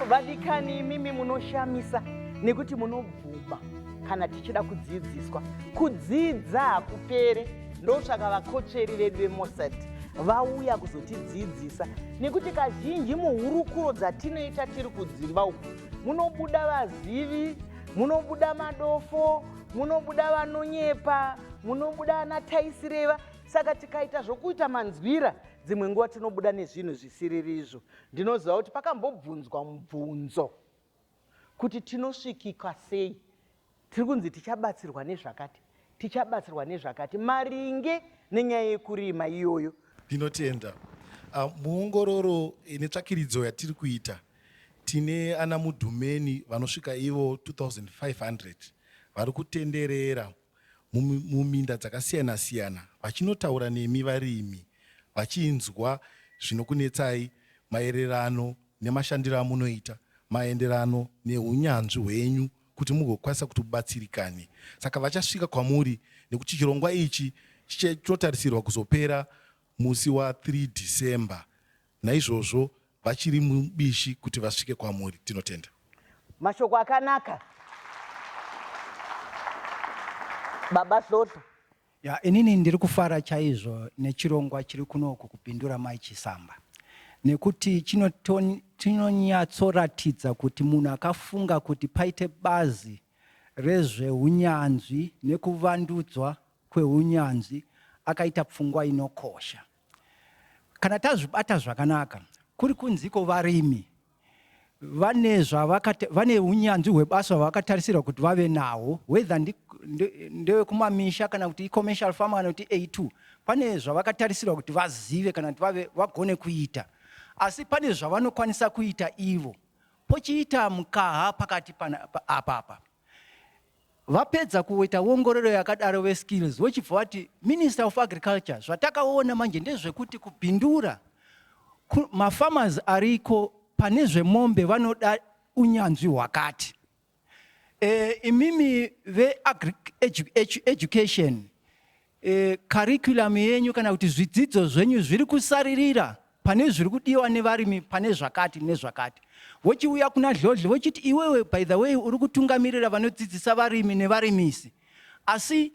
vadikani imimi munoshamisa nekuti munobvuma kana tichida kudzidziswa kudzidza hakupere ndosvaka vakotsveri vedu vemosad vauya kuzotidzidzisa nekuti kazhinji muhurukuro dzatinoita tiri kudzimba uku munobuda vazivi munobuda madofo munobuda vanonyepa munobuda ana taisireva saka tikaita zvokuita manzwira dzimwe nguva tinobuda nezvinhu zvisiririzvo ndinoziva kuti pakambobvunzwa mubvunzo kuti tinosvikika sei Tiri kunzi tichabatsirwa nezvakati, tichabatsirwa nezvakati maringe nenyaya yekurima iyoyo. Ndinotenda. Uh, muongororo netsvakiridzo yatiri kuita tine ana mudhumeni vanosvika ivo 2500 vari kutenderera muminda dzakasiyana siyana vachinotaura nemi varimi vachinzwa zvinokunetsai maererano nemashandiro amunoita maenderano neunyanzvi hwenyu kuti mugokwanisa kuti ubatsirikane. Saka vachasvika kwamuri nekuti chirongwa ichi chinotarisirwa kuzopera musi wa 3 December. Naizvozvo vachiri mubishi kuti vasvike kwamuri. Tinotenda. Mashoko akanaka Baba Hlohlo. Ya, inini ndiri kufara chaizvo nechirongwa chiri kuno uku kuBindura Mai Chisamba nekuti chinonyatsoratidza kuti munhu akafunga kuti paite bazi rezveunyanzvi nekuvandudzwa kweunyanzvi akaita pfungwa inokosha. Kana tazvibata zvakanaka, kuri kunziko varimi vane zvavakata vane unyanzvi hwebasa hwavakatarisirwa kuti vave nawo whether ndewekumamisha kana kuti icommercial farmer kana kuti a2 pane zvavakatarisirwa kuti vazive kana kuti vave vagone kuita asi pane zvavanokwanisa kuita ivo pochiita mukaha pakati apapa Vapedza kuita wongororo yakadaro veskills vochibva vati minister of agriculture zvatakaona manje ndezvekuti kubhindura mafarmers ariko pane zvemombe vanoda unyanzvi hwakati e, imimi veagric education e, curriculum yenyu kana kuti zvidzidzo zvenyu zviri kusaririra pane zviri kudiwa nevarimi pane zvakati nezvakati vochiuya kuna dhlodhle vochiti iwewe by the way uri kutungamirira vanodzidzisa varimi nevarimisi asi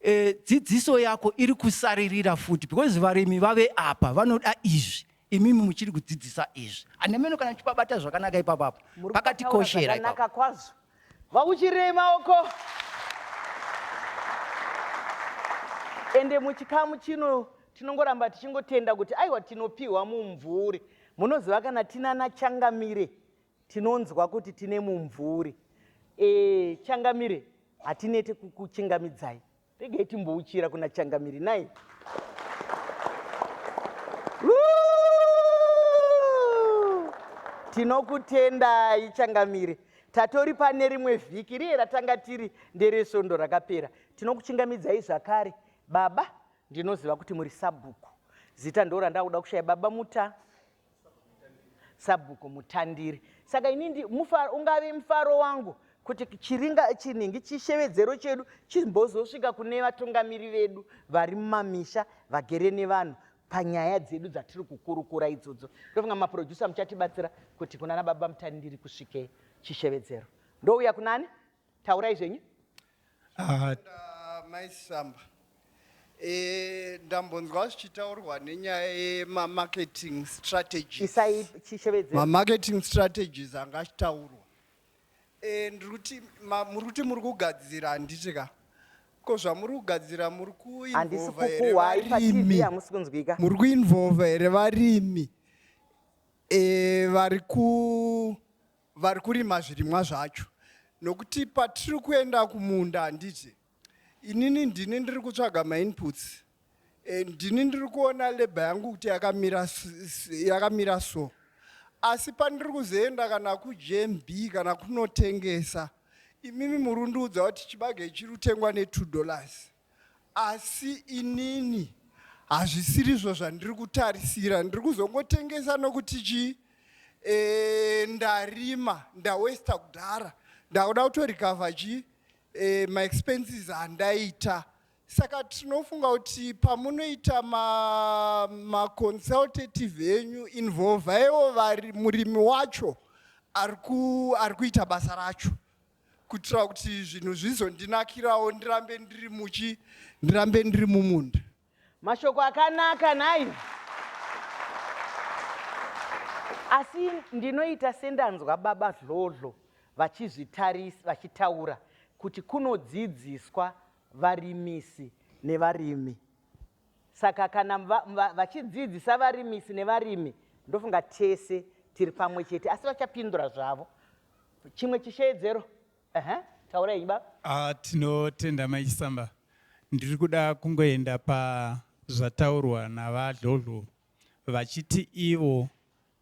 e, dzidziso yako iri kusaririra futi because varimi vave apa vanoda izvi imimi muchiri kudzidzisa izvi anemeno kana tipabata zvakanaka ipapapo pakatikoshera ipapo kwazvo vakuchirei maoko ende muchikamu chino tinongoramba tichingotenda kuti aiwa tinopiwa mumvuri munoziva kana tinana changamire tinonzwa kuti tine mumvuri e, changamire hatinete kukuchingamidzai Regai timbouchira kuna Changamire nhai. Tinokutendai Changamire. Tatori pane rimwe vhiki riye ratanga tiri nderesvondo rakapera. Tinokuchingamidzai zvakare. Baba, ndinoziva kuti muri sabhuku. Zita ndo randakuda kushaya baba muta. Sabhuku Mutandiri. Saka ini ndi, mufa, ungave mufaro wangu kuti chiringa chinhingi chishevedzero chedu chimbozosvika kune vatungamiri vedu vari mumamisha vagere nevanhu panyaya dzedu dzatiri kukurukura idzodzo ndofunga maproducer muchatibatsira kuti kunana baba mutandiri kusvike chishevedzero ndouya kunani taurai zvenyu ah, maisamba eh, ndambonzwa zvichitaurwa nenyaya yemamarketing strategiesmamarketing strategies anga achitaurwa eh, ndiri kuti muri kuti muri kugadzira handiti ka ko zvamuri kugadzira muri kuinvolvaerevarimi muri kuinvolva here varimi e, vari ku vari kurima zvirimwa zvacho nokuti patiri kuenda kumunda handiti inini ndini ndiri kutsvaga mainputs eh, ndini ndiri kuona leba yangu kuti yakamira yakamira so asi pandiri kuzoenda kana kujmb kana kunotengesa imimi murundiudza kuti chibage chiri kutengwa ne2 dollars asi inini hazvisirizvo zvandiri kutarisira ndiri kuzongotengesa nokuti chii e, ndarima ndawesta kudhara ndakuda kutorikavha chii e, maexpenses andaita saka tinofunga kuti pamunoita maconsultative ma enyu involvaiwo murimi wacho ari kuita basa racho kuitira kuti zvinhu zvizondinakirawo ndirambe ndiri muchi ndirambe ndiri mumunda mashoko akanaka nhai asi ndinoita sendanzwa baba dhlodhlo vachizvitarisa vachitaura kuti kunodzidziswa varimisi nevarimi saka kana vachidzidzisa varimisi nevarimi ndofunga tese tiri pamwe chete asi vachapindura zvavo Chimwe chisheedzero. Ehe, taura henyu baba. Ah, tinotenda mai Chisamba. Ndiri kuda kungoenda pazvataurwa naVaDlodlo vachiti ivo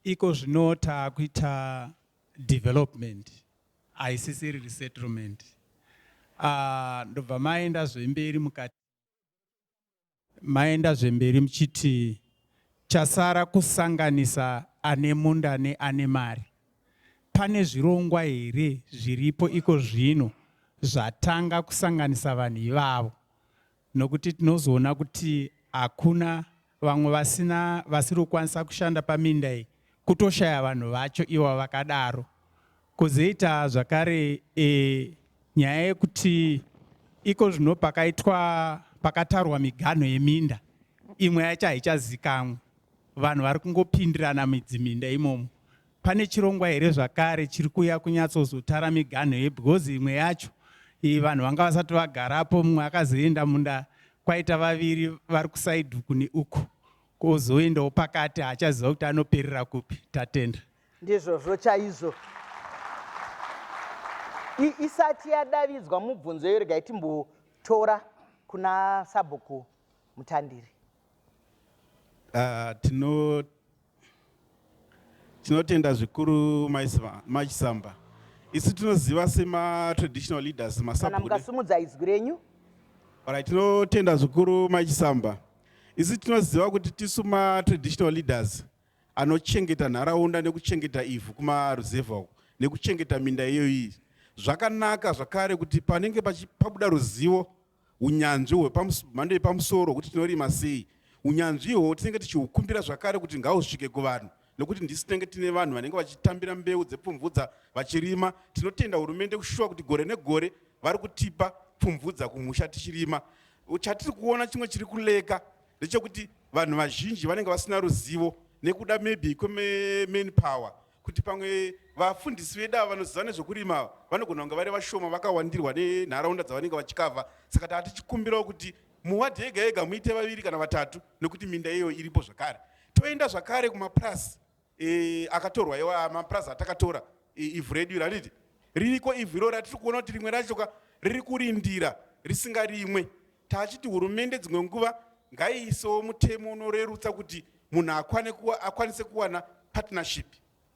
iko zvino taakuita development haisisiri resettlement. Ah, ndobva maenda zvemberi mukati maenda zvemberi muchiti chasara kusanganisa ane munda neane mari. Pane zvirongwa here zviripo iko zvino zvatanga kusanganisa vanhu ivavo? Nokuti tinozoona kuti hakuna vamwe vasina vasiri kukwanisa kushanda paminda iyi kutoshaya vanhu vacho ivo vakadaro kuzoita zvakare e, nyaya yekuti iko zvino pakaitwa pakatarwa miganho yeminda imwe yacho haichazikamwe vanhu vari kungopindirana midzi minda imomo Pane chirongwa here zvakare chiri kuya kunyatsozotara miganho ye because imwe yacho iyi vanhu vanga vasati vagarapo mumwe akazoenda munda kwaita vaviri vari kusaidhu kune uku kozoendawo pakati haachaziva kuti anoperera kupi tatenda ndizvozvo chaizvo isati yadavidzwa mubvunzo iyo regai timbotora kuna sabhuku mutandiri uh, tino Tinotenda zvikuru mai Sva- mai Chisamba. Isu tinoziva sema traditional leaders kana masabude. mukasimudza izwi renyu Alright, tinotenda zvikuru mai Chisamba. Isu tinoziva kuti tisu ma traditional leaders anochengeta nharaunda nekuchengeta ivhu kumaruzevha uko nekuchengeta minda iyoyi. Zvakanaka zvakare kuti panenge pachi- pabuda ruzivo unyanzvi hwemhando yepamusoro hwekuti tinorima sei. Unyanzvi ihwohwo tinenge tichihukumbira zvakare kuti ngahusvike kuvanhu nekuti ndisu tinenge tine vanhu vanenge vachitambira mbeu dzepfumvudza vachirima. Tinotenda hurumende kushuwa kuti gore negore vari kutipa pfumvudza kumusha tichirima. Chatiri kuona chimwe chiri kuleka ndechekuti vanhu vazhinji vanenge vasina ruzivo nekuda maybe kwemain power kuti pamwe vafundisi vedu ava vanoziva nezvekurima ava vanogona kunge vari vashoma vakawandirwa nenharaunda dzavanenge vachikavha saka taa tichikumbirawo kuti muwadhi yega yega muite vaviri kana vatatu nekuti minda iyoyo iripo zvakare toenda zvakare kumapurasi e, akatorwa iwa mapurasi atakatora e, ivhu redu iri handiti ririko ivhu iroro ratiri kuona kuti rimwe racho ka riri kurindira risingarimwe taachiti hurumende dzimwe nguva ngaiisewo mutemo unorerutsa kuti munhu akwane kuwa, akwanise kuwana partnership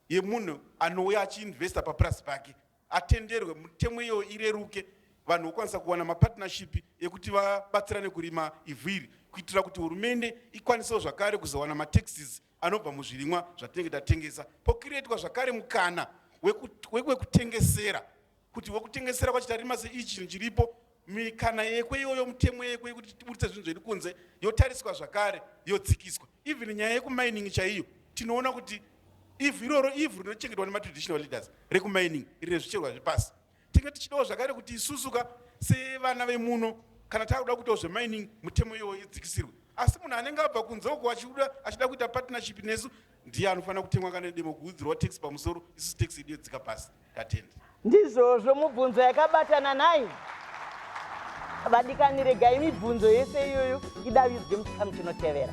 yemunhu anouya achiinvesta papurasi pake atenderwe mutemo iyoyo ireruke vanhu vokwanisa kuwana mapartnership ekuti vabatsirane kurima ivhu iri kuitira kuti hurumende ikwanisewo zvakare kuzowana mataxes anobva muzvirimwa zvatinenge tatengesa pokiretwa zvakare mukana wekutengesera kuti wekutengesera kwacho tarima seichi chinhu chiripo mikana yekwe iyoyo mutemo yekwe yekuti tiburitse zvinhu zviri kunze yotariswa zvakare yodzikiswa even nyaya yekumining chaiyo tinoona kuti ivhu iroro ivhu rinochengetwa nematraditional leaders rekumining rine zvicherwa zvepasi Tinge tichidawo zvakare kuti isusuka sevana vemuno kana takuda kuitawo zvemining mutemo iyowo idzikisirwe asi munhu anenge abva kunze uko achiuda achida kuita partnership nesu ndiye anofanira kutengwa kana demo kuudzirwa tax pamusoro isusu tax yedu yedzika pasi tatenda ndizvozvo mubvunzo yakabatana nhai vadikani regai mibvunzo yese iyoyo idavidzwe muchikamu chinotevera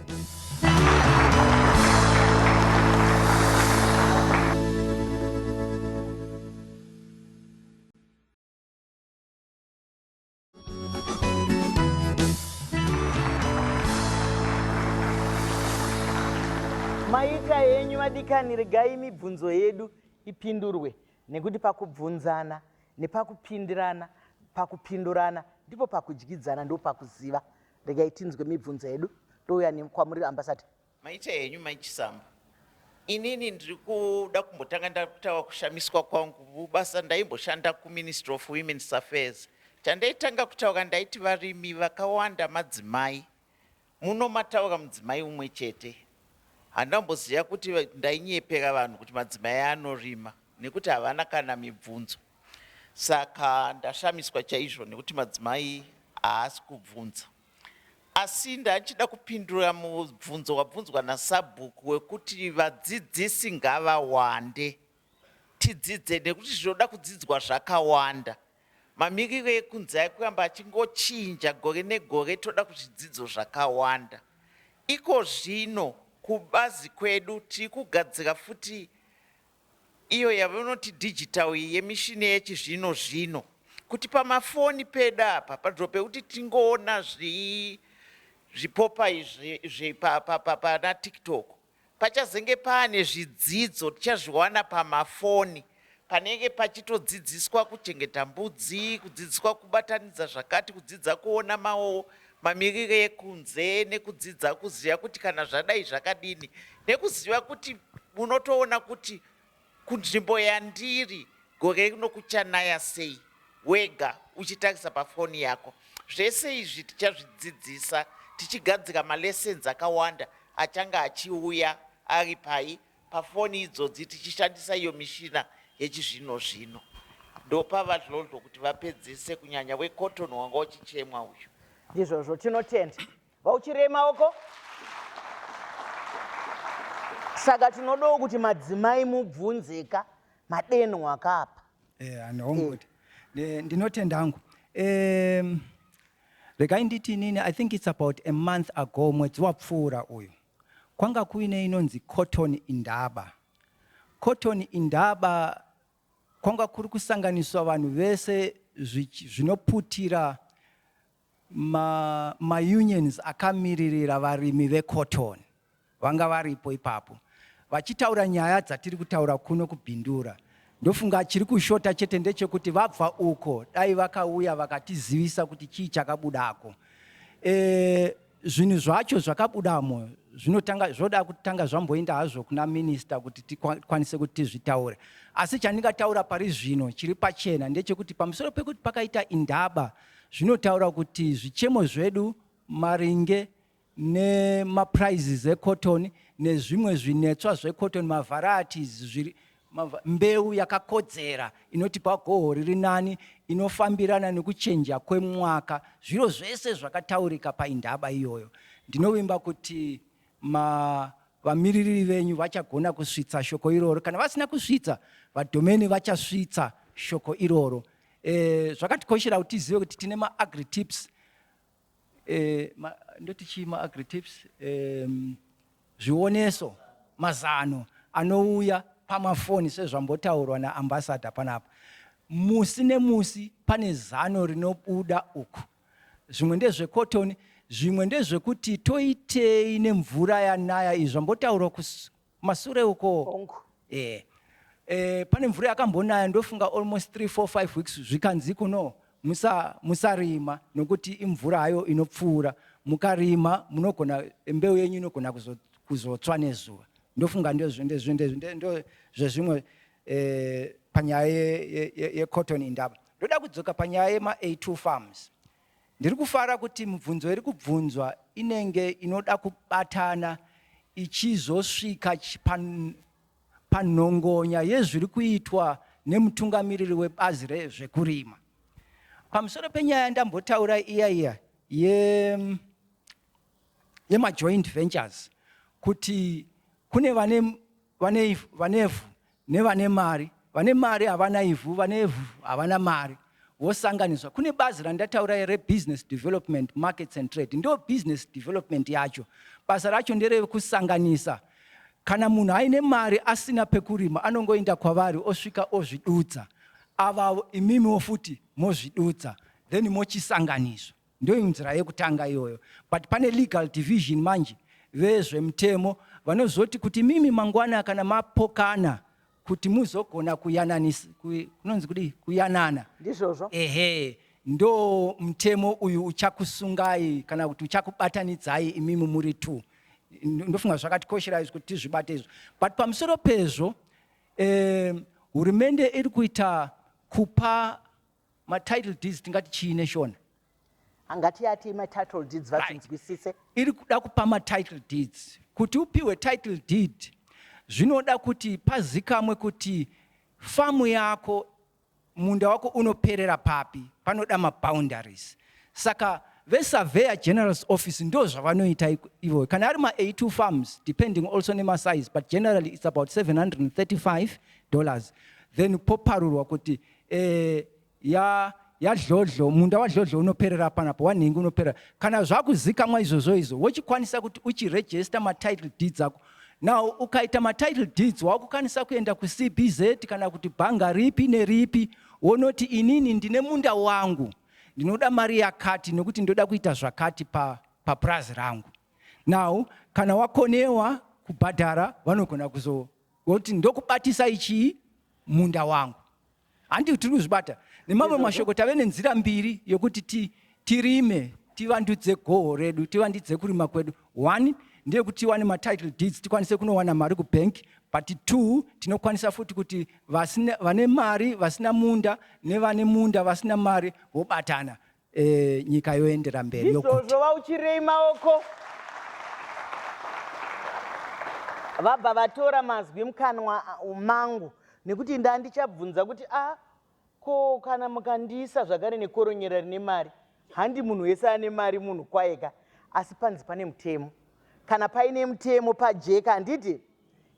maita henyu vadikani regai mibvunzo yedu ipindurwe nekuti pakubvunzana nepakupindirana pakupindurana ndipo pakudyidzana ndopakuziva regai tinzwe mibvunzo yedu touya kwamuri ambasada Maita henyu mai Chisambo. Inini ndiri kuda kumbotanga ndakutawa kushamiswa kwangu basa ndaimboshanda kuMinistry of Women's Affairs. Chandaitanga kutaura ndaiti varimi vakawanda madzimai. Muno mataura mudzimai umwe chete. Handamboziva kuti ndainyepera vanhu kuti madzimai anorima nekuti havana kana mibvunzo. Saka ndashamiswa chaizvo nekuti madzimai haasi kubvunza. Asi ndachida kupindura mubvunzo wabvunzwa nasabhuku wekuti vadzidzisi ngavawande tidzidze nekuti zvinoda kudzidzwa zvakawanda. Mamiriro ekunze akuramba achingochinja gore negore toda kuzvidzidzo zvakawanda. Iko zvino kubazi kwedu tiri kugadzira futi iyo yavanoti digital iyi yemishini yechizvino zvino kuti pamafoni pedu apa panzvimbo pekuti tingoona zvipopai pana tiktok pachazenge paane zvidzidzo tichazviwana pamafoni panenge pachitodzidziswa kuchengeta mbudzi kudzidziswa kubatanidza zvakati kudzidza kuona mawo mamirire ekunze nekudzidza kuziva kuti kana zvadai zvakadini nekuziva kuti unotoona kuti kunzvimbo yandiri gore rino kuchanaya sei wega uchitarisa pafoni yako zvese izvi tichazvidzidzisa tichigadzira malessons akawanda achanga achiuya ari pai pafoni idzodzi tichishandisa iyo mishina yechizvino zvino. Ndopa VaDlodlo kuti vapedzise kunyanya weCotton wanga uchichemwa uyu. Ndizvozvo tinotenda vauchirema uko. Saka tinodawo kuti madzimai mubvunzeka madenho akapa. Eh, anongoti. Eh. Ndinotenda hangu. Eh, regai nditi nini, I think it's about a month ago mwedzi wapfuura uyu. Kwanga kuine inonzi Cotton Indaba. Cotton Indaba kwanga kuri kusanganiswa vanhu vese zvinoputira maunions ma akamiririra varimi vecotton vanga varipo ipapo vachitaura nyaya dzatiri kutaura kuno kubindura ndofunga chiri kushota chete ndechekuti vabva uko dai vakauya vakatizivisa kuti chii chakabudako e, zvinhu zvacho zvakabudamo zvinotanga zvoda kutanga zvamboenda hazvo kuna minista kuti tikwanise kuti tizvitaure asi chandingataura pari zvino chiri pachena ndechekuti pamusoro pekuti pakaita indaba zvinotaura kuti zvichemo zvedu maringe nemaprizes ecotton nezvimwe zvinetswa zvecotton mavarieties zviri Mbeu yakakodzera inotipa goho riri nani, inofambirana nekuchenja kwemwaka. Zviro zvese zvakataurika paindaba iyoyo. Ndinovimba kuti ma vamiririri venyu vachagona kusvitsa shoko iroro. Kana vasina kusvitsa, vadhomeni vachasvitsa shoko iroro. E, zvakatikoshera kuti tizive kuti tine maagri tips eh, ma, ndoti chii maagri tips eh, zvioneso mazano anouya pamafoni sezvambotaurwa naambasada panapa musi nemusi pane zano rinobuda uku zvimwe ndezvekotoni zvimwe ndezvekuti toitei nemvura yanaya izvi zvambotaurwa Kumasure uko. Hongu. Eh. Eh, pane mvura yakambonaya ndofunga almost 3 4 5 weeks zvikanzi kuno musa musarima nokuti imvura hayo inopfuura mukarima munogona mbeu yenyu inogona kuzo, kuzotswa nezuva ndofunga ndezvo ndezvo ndezvo ndezvo- ndo zvezvimwe eh, panyaya ye- ye- ye- yecotton indaba ndoda kudzoka panyaya yema a2 farms Ndiri kufara kuti mibvunzo iri kubvunzwa inenge inoda kubatana ichizosvika panhongonya yezviri kuitwa nemutungamiriri webazi rezvekurima. Pamusoro penyaya yandambotaura iya iya yemajoint ventures kuti kune vanevhu nevane mari vane mari havana ivhu vane ivhu havana mari vosanganiswa kune bazi randataura rebusiness development markets and trade ndo business development yacho basa racho nderekusanganisa kana munhu aine mari asina pekurima anongoenda kwavari osvika ozvidudza avavo imimiwo futi mozvidudza then mochisanganiswa Ndoinzira yekutanga iyoyo but pane legal division manje vezvemutemo vanozoti kuti mimi mangwana kana mapokana kuti muzogona kuyananisa kunonzi kudii kuyanana ndizvozvo ehe ndo mutemo uyu uchakusungai kana kuti uchakubatanidzai imimi muri two ndofunga zvakatikoshera izvi kuti tizvibate izvo but pamusoro pezvo um, hurumende iri kuita kupa matitle deeds tingati chii neshona hangati yati matitle deeds vatinzwisise right. iri kuda kupa matitle deeds kuti upiwe title deed zvinoda kuti pazikamwe kuti famu yako munda wako unoperera papi panoda maboundaries saka vesurveyor general's office ndo zvavanoita ivo kana ari ma82 farms depending also nemasize but generally it's about 735 dollars then poparurwa kuti eh, ya yadlodlo munda wadlodlo unoperera panapo wanhingi unoperera kana zvakuzikamwa izvozvo izvo wochikwanisa kuti uchirejesta matitle deeds ako now ukaita matitle deeds wakukwanisa kuenda kucbz kana kuti bhanga ripi neripi wonoti inini ndine munda wangu ndinoda mari yakati nekuti ndoda kuita zvakati papurazi pa rangu now kana wakonewa kubhadhara vanogona kuzo Kuti ndokubatisai chii? Munda wangu. Handi tiri kuzvibata. Nemamwe mashoko tave nenzira mbiri yokuti ti, tirime, tivandudze goho redu, tivandidze kurima kwedu. One, ndeyekuti tiwane matitle deeds, tikwanise kunowana mari kubank. But two, tinokwanisa futi kuti vasina, vane mari vasina munda nevane munda vasina mari vobatana Eh, nyika yoendera mberi yokuti. Ndizvozvo vauchirei maoko. Vabva vatora mazwi mukanwa mangu nekuti ndandichabvunza kuti a ah, ko kana mukandiisa zvakare nekoronyera rine mari handi munhu wese ane mari munhu kwayeka asi panzi pane mutemo kana paine mutemo pajeka handiti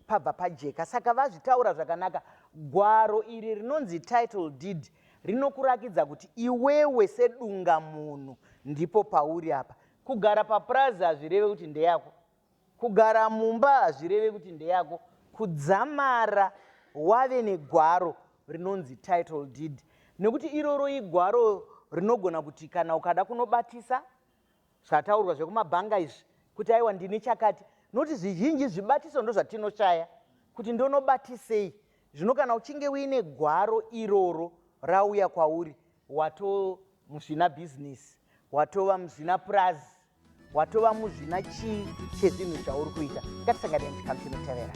pabva pajeka saka vazvitaura zvakanaka gwaro iri rinonzi title deed rinokurakidza kuti iwewe sedunga munhu ndipo pauri apa kugara papurazi hazvireve kuti ndeyako kugara mumba hazvireve kuti ndeyako kudzamara wave negwaro rinonzi title deed nekuti iroro igwaro rinogona kuti kana ukada kunobatisa zvataurwa zvekumabhanga izvi kuti aiwa ndine chakati nokuti zvizhinji zvibatiso ndozvatinoshaya kuti ndonobatisei zvino kana uchinge uine gwaro iroro rauya kwauri wato muzvina bhizinesi watova muzvina purazi watova muzvina chii chezvinhu zvauri kuita ngatisanganei muchikamu chinotevera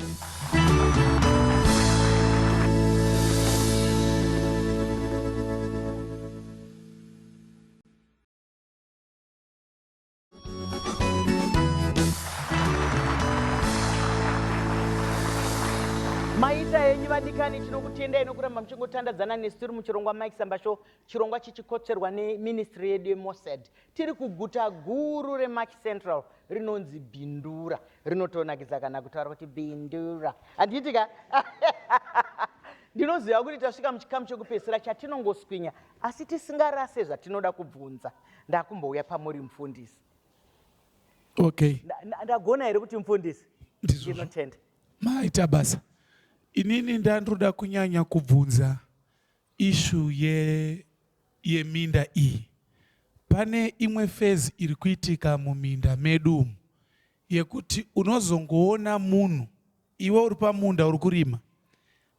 maita henyu vadikani tinokutendai nokuramba muchingotandadzana nesu tiri muchirongwa mike samba show chirongwa chichikotserwa neministry yedu yemosad tiri kuguta guru remaki central rinonzi bindura rinotonakidza kana kutaura kuti bindura handiitika ndinoziva kuti tasvika muchikamu chekupedzisira chatinongoswinya Asi tisingarase zvatinoda kubvunza, ndakumbouya pamuri mufundisi. Okay. Ndagona here kuti mufundisi? Ndinotenda. Maita basa. Inini ndandoda kunyanya kubvunza ishu ye yeminda iyi. Pane imwe phase iri kuitika muminda medu umu yekuti unozongoona munhu iwe uri pamunda uri kurima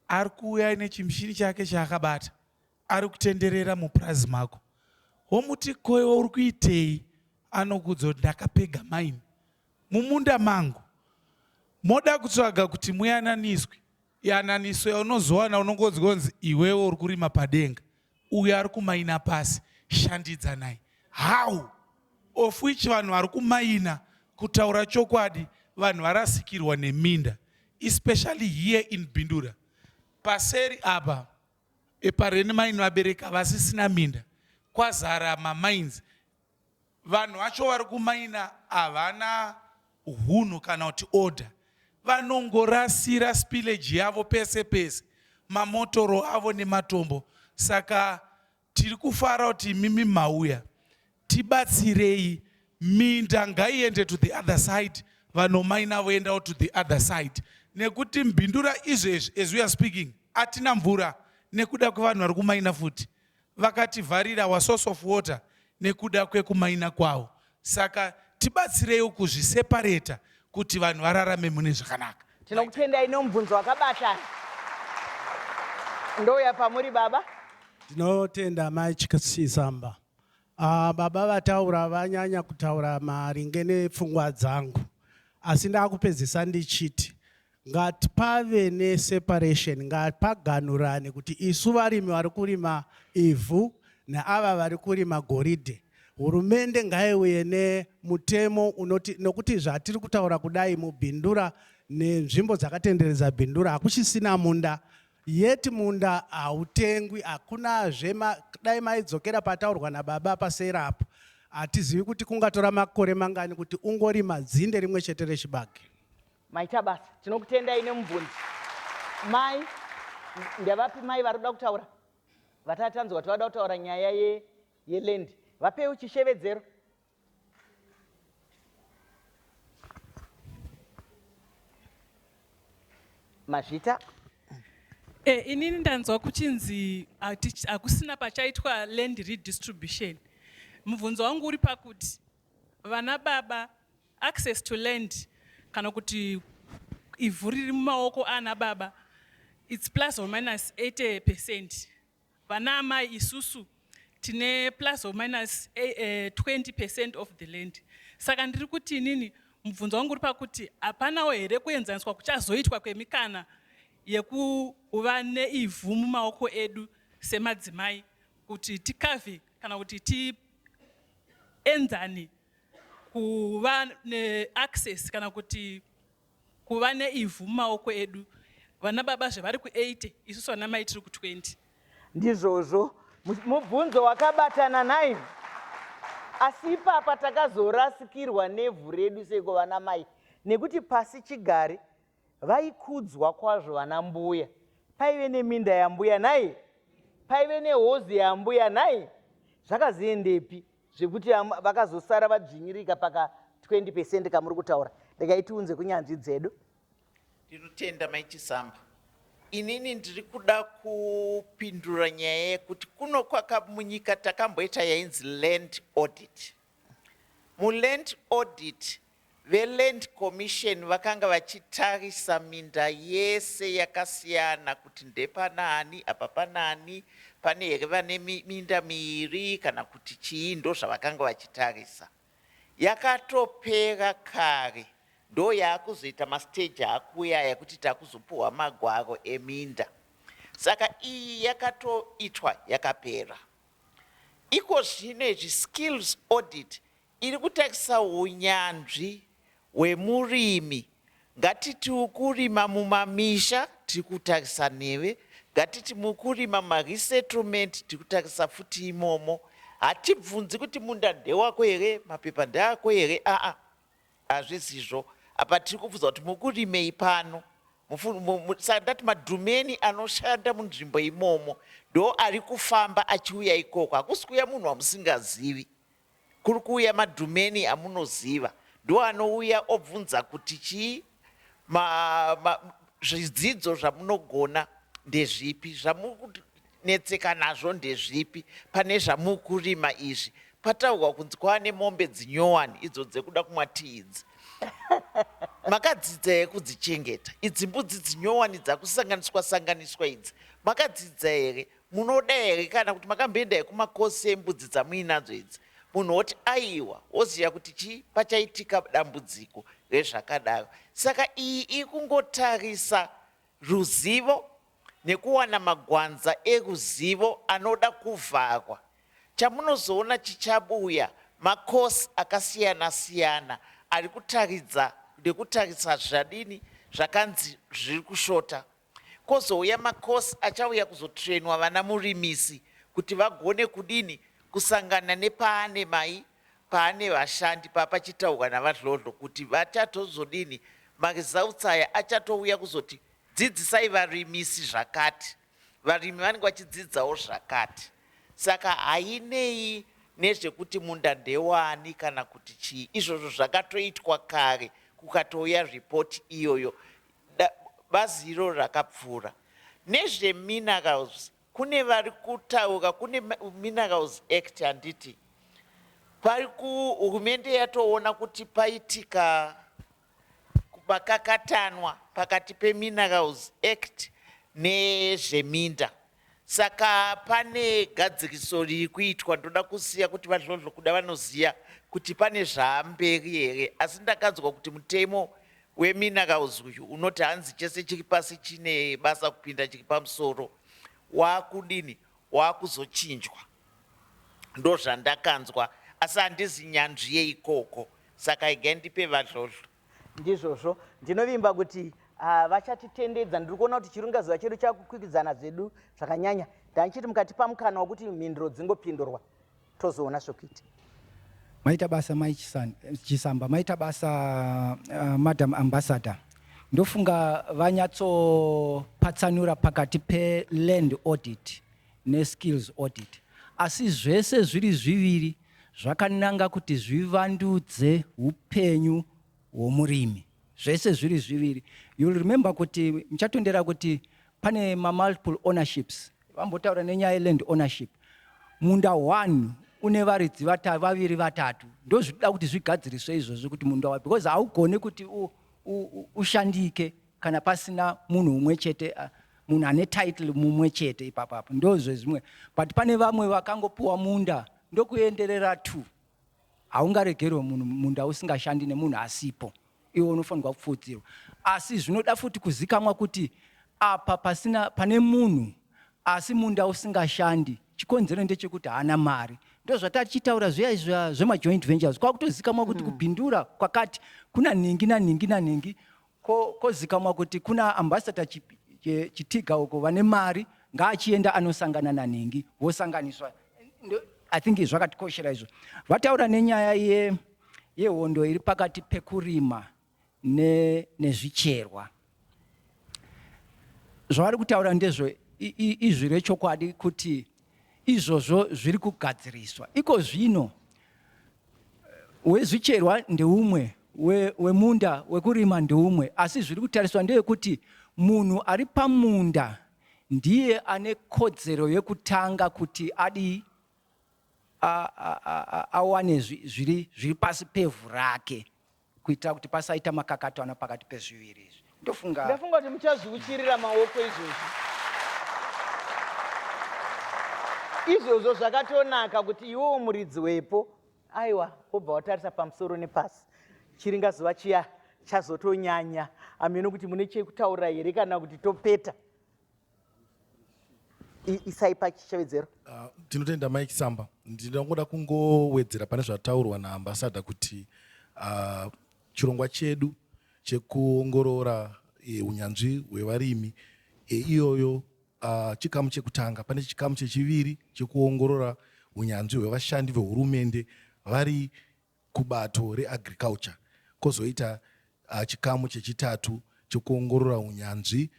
ari kuuya nechimushini chake chaakabata ari kutenderera mupurazi mako womuti koiwa uri kuitei anokuudza kuti ndakapega maini mumunda mangu moda kutsvaga kuti muyananiswe yananiswe unozowana unongonzwa kunzi iwewe uri kurima padenga uyo ari kumaina pasi shandidzanai how of which vanhu vari kumaina kutaura chokwadi vanhu varasikirwa neminda especially here in bindura paseri apa Epa rent mainn vabereki havasisina minda kwazara ma mines vanhu vacho vari ku maina havana hunhu kana kuti order vanongorasira spillage yavo pese pese mamotoro avo nematombo saka tiri kufara kuti imimi mauya Tibatsirei minda ngaiende to the other side vanhu maina voendawo to the other side nekuti mbindura izvezvi as we are speaking atina mvura nekuda kwevanhu vari kumaina futi vakativharira wa source of water nekuda kwekumaina kwawo saka tibatsireiwo kuzvisepareta kuti vanhu vararame mune zvakanaka tinokutendai nomubvunzo wakabatana ndouya pamuri baba ndinotenda mai chikasizamba Ah, baba vataura vanyanya kutaura maringe nepfungwa dzangu asi ndakupedzisa ndichiti ngatipave neseparation ngapaganurane kuti isu varimi vari kurima ivhu neava vari kurima goridhe hurumende ngaiuye nemutemo unoti nokuti zvatiri kutaura kudai mubhindura nenzvimbo dzakatenderedza bhindura hakuchisina munda Yet munda hautengwi hakuna zvema dai maidzokera pataurwa nababa pasera apo hatizivi kuti kungatora makore mangani kuti ungorima dzinde rimwe chete rechibage. Maita basa tinokutendai nemubvunzi mai. Ndevapi mai vari kuda kutaura vatati tanzwa kuti vada kutaura nyaya ye, yeland vapeiwo chishevedzero mazvita e, inini ndanzwa kuchinzi hakusina pachaitwa land redistribution mubvunzo wangu uri pakuti vana baba access to land kana kuti ivhu riri mumaoko ana baba its plus or minus 80 percent Vana amai isusu tine plus or minus 20 eh, percent of the land saka ndiri kuti inini mubvunzo wangu uri pakuti hapanawo here kuenzaniswa kuchazoitwa kwemikana yekuva neivhu mumaoko edu semadzimai kuti tikavhe kana kuti tienzane kuva neaccess kana kuti Kuva neivhu mumaoko edu. Vana baba zve vari ku 80 isusu vana mai tiri ku 20. Ndizvozvo. Mubvunzo wakabatana naivhu. Asi ipapa takazorasikirwa nevhu redu seiko vana mai nekuti pasi chigare vaikudzwa kwazvo vana mbuya. Paive neminda yambuya nhai? Paive nehozi yambuya nhai? Zvakazoendepi? zvekuti vakazosara vadzvinyirika paka 20 percent kamuri kutaura regai tiunze kunyanzvi dzedu ndinotenda maichisamba inini ndiri kuda kupindura kupindura nyaya yekuti kuno kwakamunyika takamboita yainzi land audit muland audit VeLand Commission vakanga vachitarisa minda yese yakasiyana kuti ndepanaani, apa panaani, pane here vane minda miiri kana kuti chii ndozvavakanga vachitarisa. Yakatopera kare ndoyaakuzoita mastage akuuya aya kuti takuzopuhwa magwaro eminda. Saka iyi yakatoitwa yakapera. Iko zvino izvi skills audit Iri kutakisa hunyanzvi hwemurimi. Ngatitiwo kurima mumamisha tiri kutakisa neve. Ngatiti muri kurima mumaresettlement tiri kutakisa futi imomo. Hatibvunzi kuti munda ndewako here, mapepa ndeako here aa hazvisizvo. Apa tiri kubvunza kuti muri kurimei pano. Saka ndati madhumeni anoshanda munzvimbo imomo ndo ari kufamba achiuya ikoko. Hakusi kuuya munhu wamusingazivi. Kuri kuuya madhumeni amunoziva ndiwo anouya obvunza kuti chii ma, ma, zvidzidzo zvamunogona ndezvipi zvamunetseka nazvo ndezvipi pane zvamukurima izvi pataurwa kunzi kwava nemombe dzinyowani idzo dzekuda kumwa tii idzi makadzidza here kudzichengeta idzi mbudzi dzinyowani dzakusanganiswa sanganiswa idzi makadzidza here Munoda here kana kuti makamboenda ekumakosi embudzi dzamuinadzo idzi munhu woti aiwa woziva kuti chii pachaitika dambudziko rezvakadaro saka iyi ikungotarisa ruzivo nekuwana magwanza eruzivo anoda kuvharwa chamunozoona chichabuya makosi akasiyana siyana ari kutaridza nekutarisa zvadini zvakanzi zviri kushota Kozouya ma course achauya kuzotrainwa vana murimisi kuti vagone kudini kusangana nepaane mai paane vashandi papachitaurwa naVaDhlodhlo kuti vachatozodini ma results aya achatouya kuzoti dzidzisai varimisi zvakati varimi vanenge vachidzidzawo zvakati saka hainei nezvekuti munda ndewani kana kuti chii izvozvo zvakatoitwa kare kukatouya report iyoyo bazi iroro rakapfuura nezveminerals kune vari kutaura kune minerals act handiti pari kuhurumende yatoona kuti paitika pakakatanwa pakati peminerals act nezveminda Saka pane gadzirisoo riri kuitwa ndoda kusiya kuti VaDhlodhlo kuda vanoziva kuti pane zvaamberi here asi ndakanzwa kuti mutemo weminerals uyu unoti hanzi chese chiri pasi chine basa kupinda chiri pamusoro wakudini wakuzochinjwa ndozvandakanzwa asi handizi nyanzvi yeikoko saka igai ndipe VaDhlodhlo Ndizvozvo. Ndinovimba kuti ah, vachatitendedza. Ndiri kuona kuti chiringazuva chedu chakukwikwidzana zvedu zvakanyanya. Ndanichiti mukatipa mukana wekuti mhinduro dzingopindurwa tozoona zvekuita. Maita basa mai Chisan- Chisamba, maita basa uh, Madam Ambassador. Ndofunga vanyatsopatsanura pakati peland audit neskills audit. Asi zvese zviri zviviri zvakananga kuti zvivandudze upenyu hwomurimi zvese zviri zviviri you'll remember kuti muchatondera kuti pane mamultiple ownerships vambotaura nenyaya yeland ownership munda one une varidzi vata, vaviri vatatu ndozvida kuti zvigadziriswe izvozvo kuti munda wa because haugone kuti ushandike kana pasina munhu umwe chete uh, munhu ane title mumwe chete ipapo apo ndozvezvimwe but pane vamwe vakangopiwa munda ndokuenderera two haungaregerwe munhu munda usingashandi nemunhu asipo iwe unofanirwa kupfuudzirwa asi zvinoda futi kuzikamwa kuti apa pasina pane munhu asi munda usingashandi chikonzero ndechekuti haana mari ndozvatatichitaura zviya izva zvemajoint ventures kwakutozikamwa kuti mm. kubhindura kwakati kuna nhingi nanhingi nanhingi Ko, kozikamwa kuti kuna ambassador Chitiga uko vane mari ngaachienda anosangana nanhingi vosanganiswa. I think zvakatikoshera izvo. Vataura nenyaya ye yehondo iri pakati pekurima ne, nezvicherwa zvavari kutaura ndezvo izwi rechokwadi kuti izvozvo zviri kugadziriswa iko zvino. Wezvicherwa ndeumwe, wemunda we wekurima ndeumwe, asi zviri kutariswa ndeyekuti munhu ari pamunda ndiye ane kodzero yekutanga kuti adii awane zviri pasi pevhu rake. Kuitira kuti pasaita makakatanwa pakati pezviviri izvi, ndofunga. Ndafunga kuti muchazviuchirira maoko izvozvo. Izvozvo zvakatonaka kuti iwewo muridzi wepo, aiwa, wobva watarisa pamusoro nepasi. Chiringazuva chiya chazotonyanya hameno kuti mune chekutaura here kana kuti topeta. isai pachitevedzero uh, ah, tinotenda mike samba ndinongoda kungowedzera pane zvataurwa naambasada kuti uh, chirongwa chedu chekuongorora e, unyanzvi hwevarimi e, iyoyo uh, chikamu chekutanga pane chikamu chechiviri chekuongorora unyanzvi hwevashandi vehurumende vari kubato reAgriculture kozoita chikamu chechitatu chekuongorora hunyanzvi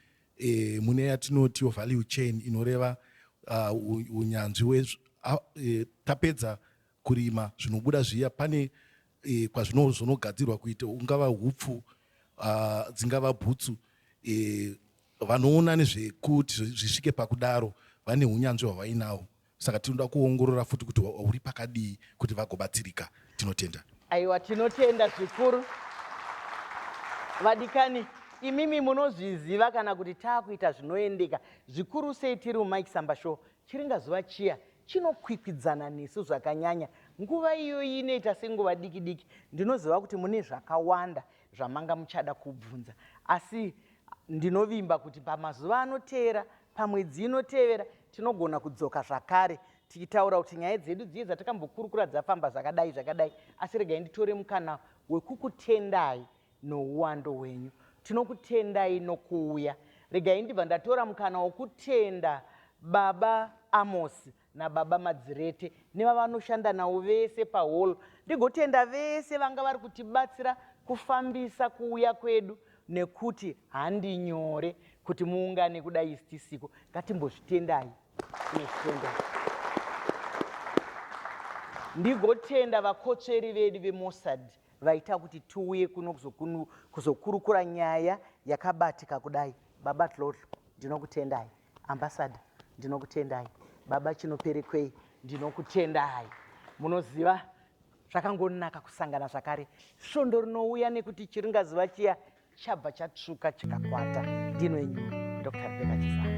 mune yatinotiwo value chain inoreva hunyanzvi hwe tapedza kurima zvinobuda zviya pane kwazvinozonogadzirwa kuita ungava hupfu dzingava bhutsu vanoona nezvekuti zvisvike pakudaro vane hunyanzvi hwavainaho. saka tinoda kuongorora futi kuti uri pakadii kuti vagobatsirika tinotenda aiwa tinotenda zvikuru vadikani imimi munozviziva kana kuti taakuita zvinoendeka zvikuru sei tiri mumike samba show chiringa zuva chiya chinokwikwidzana nesu zvakanyanya nguva iyoyi inoita senguva diki diki ndinoziva kuti mune zvakawanda zvamanga muchada kubvunza asi ndinovimba kuti pamazuva anoteera pamwedzi inotevera tinogona kudzoka zvakare tichitaura kuti nyaya dzedu dziye dzatakambokurukura dzafamba zvakadai zvakadai asi regai nditore mukana wekukutendai nouwando hwenyu tinokutendai nokuuya regai ndibva ndatora mukana wokutenda baba amosi nababa Madzirete nevavanoshanda navo vese pahall ndigotenda vese vanga vari kutibatsira kufambisa kuuya kwedu nekuti handi nyore kuti muungane kudai isi tisiko ngatimbozvitendai tinozvitendai ndigotenda vakotsveri vedu vemossad vaita kuti tiuye kuno kuzokunu- kuzokurukura nyaya yakabatika kudai baba dlodlo ndinokutendai Ambassador ndinokutendai. Baba Chinoperekwei ndinokutendai. Munoziva zvakangonaka kusangana zvakare svondo rinouya nekuti chiringazuva chiya chabva chatsvuka chikakwata. Ndino enyu Dr. Rebecca Chisanga.